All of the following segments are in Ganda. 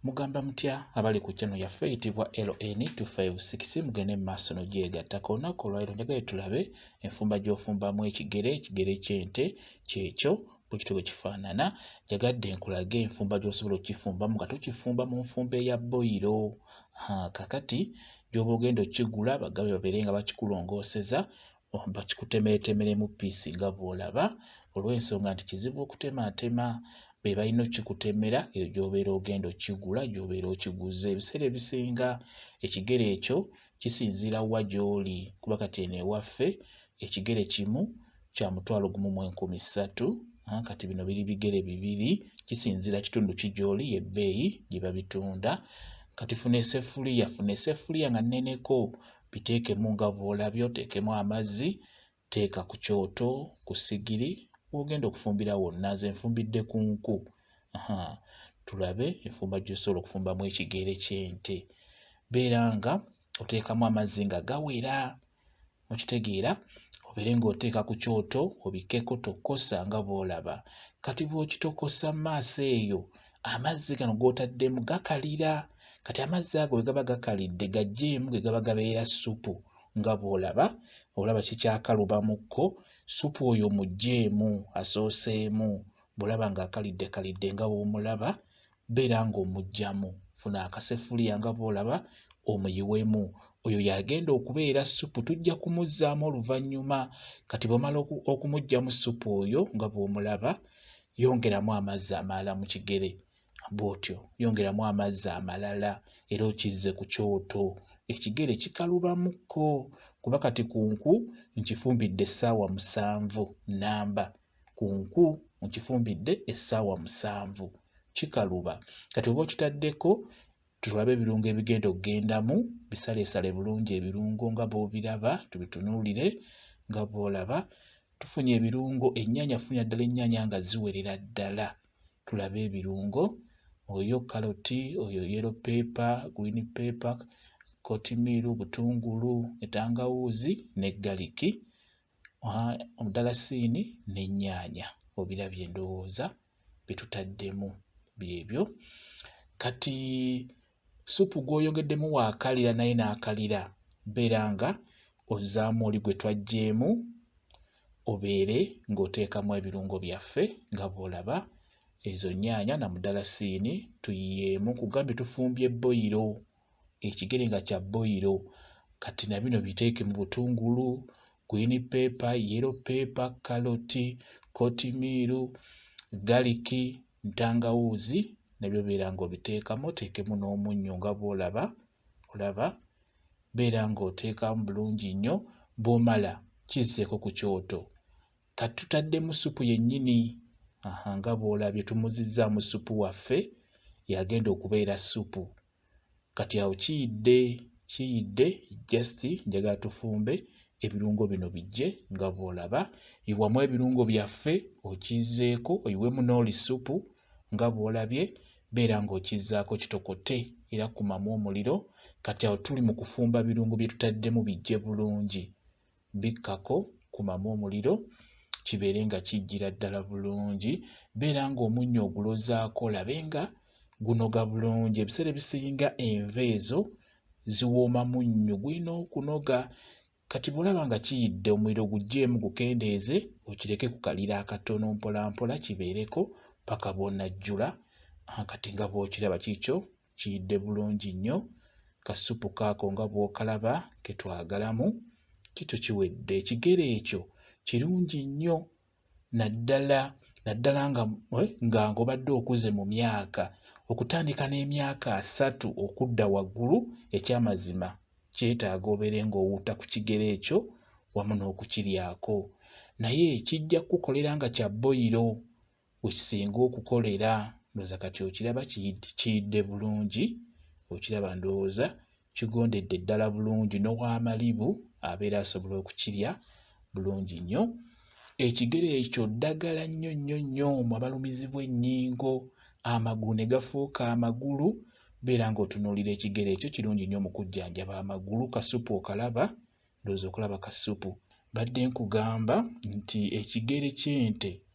Mugamba mutya abali ku channel yaffe eyitibwa LN256 mugende mu maaso n'ogyegatta. Ku lunaku olwaliro njagala tulabe enfumba gy'ofumbamu ekigere, ekigere ky'ente kyekyo bwe kityo bwe kifaanana. Njagadde nkulage enfumba gy'osobola okukifumbamu nga tukifumba mu nfumba eya boyiro. Kakati gy'oba ogenda okukigula bagabe babeere nga bakikulongooseza bakikutemeetemeremu piisi nga bw'olaba olw'ensonga nti kizibu okutemaatema be balina okikutemera eyo gy'obeera ogenda okigula gy'obeera okiguze ebiseera ebisinga ekigere ekyo kisinziira wa gy'oli kuba kati eno ewaffe ekigere kimu kya mutwalo gumu mu enkumi ssatu kati bino biri bigere bibiri kisinziira kitundu ki gy'oli ebbeeyi gye babitunda kati funa esefuliya funa esefuliya nga nneneko biteekemu nga bw'olabye oteekemu amazzi teeka ku kyoto ku sigiri w'ogenda okufumbira wonna nze nfumbidde ku nku tulabe enfumba gy'osobola okufumbamu ekigere ky'ente beera nga oteekamu amazzi nga gawera okitegeera obeere ng'oteeka ku kyoto obikkeko tokosa nga bw'olaba kati bw'okitokosa mu maaso eyo amazzi gano g'otaddemu gakalira kati amazzi ago bwe gaba gakalidde gajjeemu ge gaba gabeera ssupu nga bw'olaba olaba kikyakaluba mu kko ssupu oyo mugjeemu asooseemu bw'olaba ng'akalidde kalidde nga bw'omulaba beera ng'omuggyamu funa akasefuliya nga bw'olaba omuyiwemu oyo yagenda okubeera ssupu tujja kumuzzaamu oluvannyuma kati bw'omala okumuggyamu ssupu oyo nga bw'omulaba yongeramu amazzi amalala mu kigere bw'otyo yongeramu amazzi amalala era okizze ku kyoto ekigere kikalubamuko kuba kati ku nku nkifumbidde essaawa musanvu nnamba ku nku nkifumbidde essaawa musanvu kikaluba kati oba okitaddeko Tulabe ebirungo ebigenda okugendamu, bisaleesale bulungi ebirungo nga bw'obiraba, tubitunuulire nga bw'olaba. Tufunye ebirungo, ennyaanya funira ddala ennyaanya nga ziwerera ddala. Tulabe ebirungo, oyo kaloti, oyo yero peepa, green peepa, kotimiiru, butungulu, entangawuuzi ne galiki, omudalasiini n'ennyaanya. Obirabye ndowooza. byetutaddemu byebyo kati supu gw'oyongeddemu waakalira naye n'akalira beera nga ozaamu oli gwe twajjeemu obeere ng'oteekamu ebirungo byaffe nga bw'olaba ezo nnyaanya na mudalasiini tuyiyeemu kugambye tufumbye bboyiro ekigere nga kya boyiro kati na bino biteeke mu butungulu gwini peepa yero peepa kaloti kotimiiru galiki ntangawuuzi nabyo beera ng'obiteekamu oteekemu n'omunnyo nga bw'olaba olaba beera ng'oteekamu bulungi nnyo bw'omala kizzeeko ku kyoto kati tutaddemu ssupu yennyini aha nga bw'olabye tumuzizzaamu ssupu waffe yagenda okubeera ssupu kati awo kiyidde kiyidde just njagala tufumbe ebirungo bino bijje nga bw'olaba iwamu ebirungo byaffe okizzeeko oyiwemu n'oli ssupu nga bw'olabye beera ng'okizzaako kitokote era kumamu omuliro kati awo tuli mu kufumba birungo bye tutaddemu bijje bulungi bikkako, kumamu omuliro kibeere nga kijjira ddala bulungi. Beera ng'omunnyo ogulozaako olabe nga gunoga bulungi. Ebiseera ebisinga enva ezo ziwooma munnyo, gulina okunoga. Kati bw'olaba nga kiyidde omuliro guggyeemu gukendeeze okireke ku kaliro akatono mpolampola kibeereko paka bw'onajjula kati nga bw'okiraba kiikyo kiyidde bulungi nnyo kasupu kaako nga bw'okalaba ke twagalamu kito kiwedde ekigere ekyo kirungi nnyo naddala naddala nga eh, nga ng'obadde okuze mu myaka okutandika n'emyaka asatu okudda waggulu ekyamazima kyetaaga obeere ng'owuuta ku kigere ekyo wamu n'okukiryako naye kijja kukukolera nga kya boyiro wekisinga okukolera ndoza kati okiraba kiyidde bulungi okiraba ndowooza kigondedde ddala bulungi nowamalibu abeera asobola okukirya bulungi nnyo ekigere ekyo ddagala nnyo nnyo nnyo mu abalumizibwa ennyingo amagulu ne gafuuka amagulu beera ng'otunuulira ekigere ekyo kirungi nnyo mu kujjanjaba amagulu kasupu okalaba ndowooza okulaba kasupu badde nkugamba nti ekigere ky'ente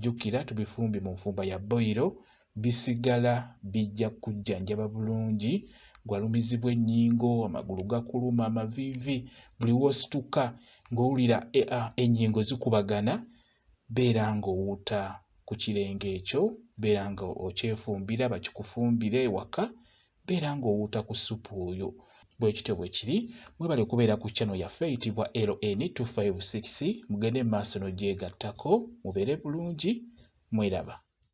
Jjukira tubifumbye mu nfumba ya boyiro bisigala bijja kujjanjaba bulungi gwalumizibwa ennyingo amagulu gakuluma amaviivi buli w'osituka ng'owulira e, ennyingo zikubagana beera ng'owuuta ku kirenge ekyo beera nga okyefumbira bakikufumbire ewaka beera ng'owuuta ku ssupu oyo bwe kityo bwe kiri mwebale kubeera ku chano yaffe eyitibwa ln 256 mugende mu maaso n'ogyegattako mubeere bulungi mweraba